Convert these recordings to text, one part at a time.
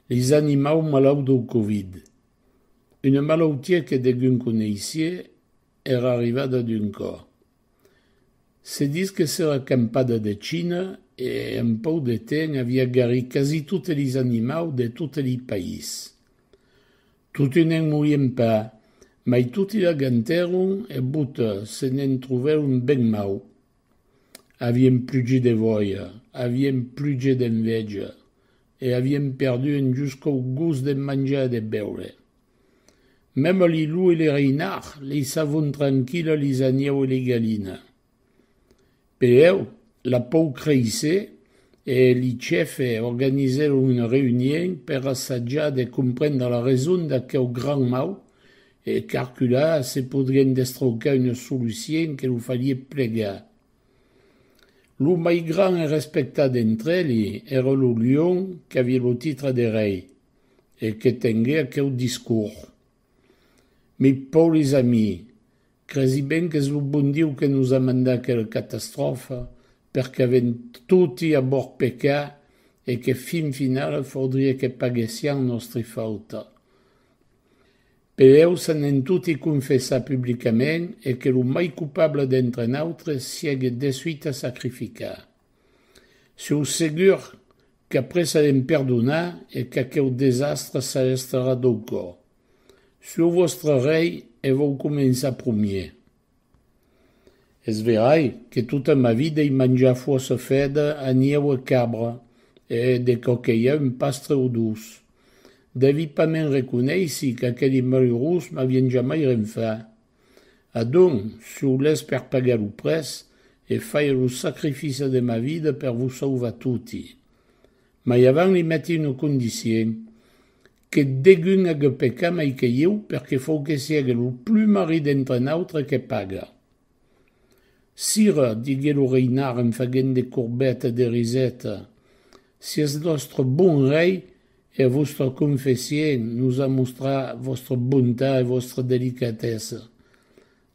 Leis animaus malauts dau covid. Una malautia que degun coneissié era arrivada d'un còr. Se ditz que s'era campada de China e en pòu de temps avia garit quasi totes leis animaus de totes lei país. Toti ne'n morien pas, mai toti l'agantèron e bota se ne'n trovèron ben mau. Aviem plugit de vòia, aviem plugit d'enveja e aviem perdu en juscau gust de manjar e de beure. Mèm a li lou e li reinard leissavon tranquila lis aniau e li galina. Peèu, la pau creisse e li chèfe organizèron una reunhien per assajar de comprendre la reson d'aqueu gran mau E calcular se podrián destroncar una solucien que lo farie plegar. Lo mai grand e respectat entre eli èra lo lion qu'aviá lo titre de rei e que tengué aqueu discors. Mes pauris amis, cresi ben qu'es lo bon Dieu que nos a mandat aquela catastròfa per qu'avèm toti a bòrd pecar e que fin finala faudriá que paguessián nòstri fauta. Pereu se n'en toti confessar publicament e que lo mai cupable d'entre nautres siègue desuita sacrificar. Sieu segur qu'après serem perdonat e qu'aqueu desastre s'arrestarà dau còp. Sieu vòstre rei e vòu començar promier. Es verai que tota ma vida i manjar fossa fèt a nieu e cabra, e de quò que i a un pastre o dos. Devi pas me'n reconeissi qu'aqueli malurós m'avien jamai ren fat. Adonc, sou lèth per pagar lo prètz e fair lo sacrifice de ma vida per vos sauvar toti. Mai avant li meti una condicien, Que degun ague pecar mai que ieu, perque fou que siègue lo plumar ri d'entre nautre que paga. Sira, digué lo reinhar en faguent de courbeta de riseta, si eth nòstre bon rei e a vòstra confession nos a mostrat vòstra bontat e vòstra delicatessa,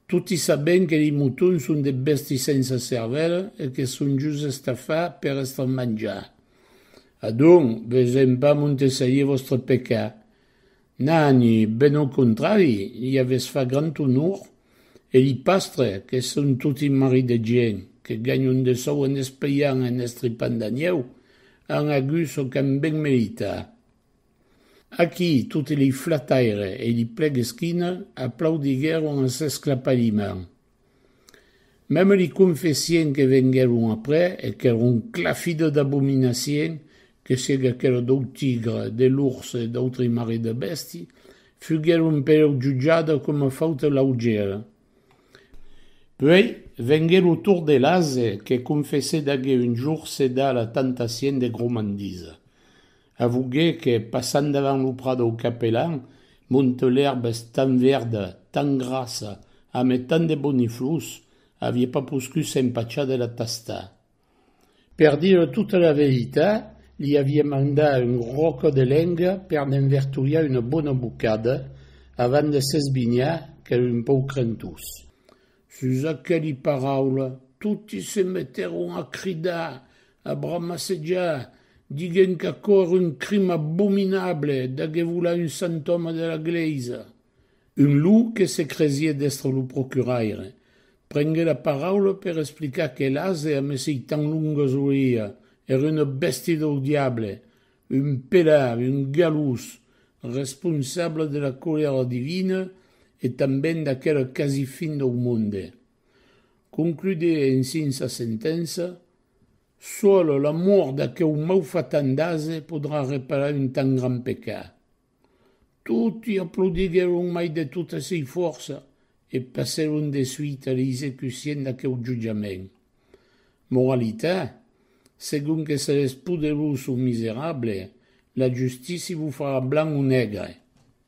Toti sabèm que li motons son de bèsti sensa cervèla e que son just estafats per èstre manjats. Adonc, vesèm pas montesselir vòstre pecat. Nani, ben au contrari, li avètz fach grand onor, e li pastre, que son toti maris de gent, que ganhon de sòu en espelhant e en estripant d'anieu, an agut çò qu'an ben meritat. Aquí, toti li flataire e li plegesquina aplaudiguèron a s'esclapaliment. Meme li confessien que venguèron après e qu'èron clafido d'abominacien, que siègue aquela dau tigre, de l'ors e d'autri mari de bèsti, fuguèron pereu jutjada coma fauta laugera. Puèi, vengué lo tour de l'ase, que confessé d'agué un jour ceda a la tentacien de gromandisa. Avugue que, passant davant lo prat dau Capelan, monte l'èrba es tan verda, tan grassa, ame tant de boniflors, avie pas poscut s'empachar de la tastar. Per dire tota la veritat, li avie mandat un ròco de lenga per ne'n vertolhar una bona bocada, avant de s'esbinhar qu'ère un pauc crentós. Sus aqueli paraulas, toti se metèron a cridar, A bramassejar, diguent qu'aquò èra un crim abominable d'agé volar un sant òme de la glèisa. Un lou que se cresié d'èstre lo procuraire, prengué la paraula per explicar que l'ase a mesei tan longas oïa, èra una bèsti dau diable, un pelard, un galós, responsable de la colèra divina e tanben d'aquela quasi fin dau monde. Concludie ensin sa sentença, Sola la mort d'aqueu maufatan d'ase podrà reparar un tan grand pecat. Toti aplaudiguèron mai de tota sei fòrça e passèron de suite a l'execucien d'aqueu jutjament. Moralitat, Segon que seretz poderós o miserable, la justici vos farà blanc o negre.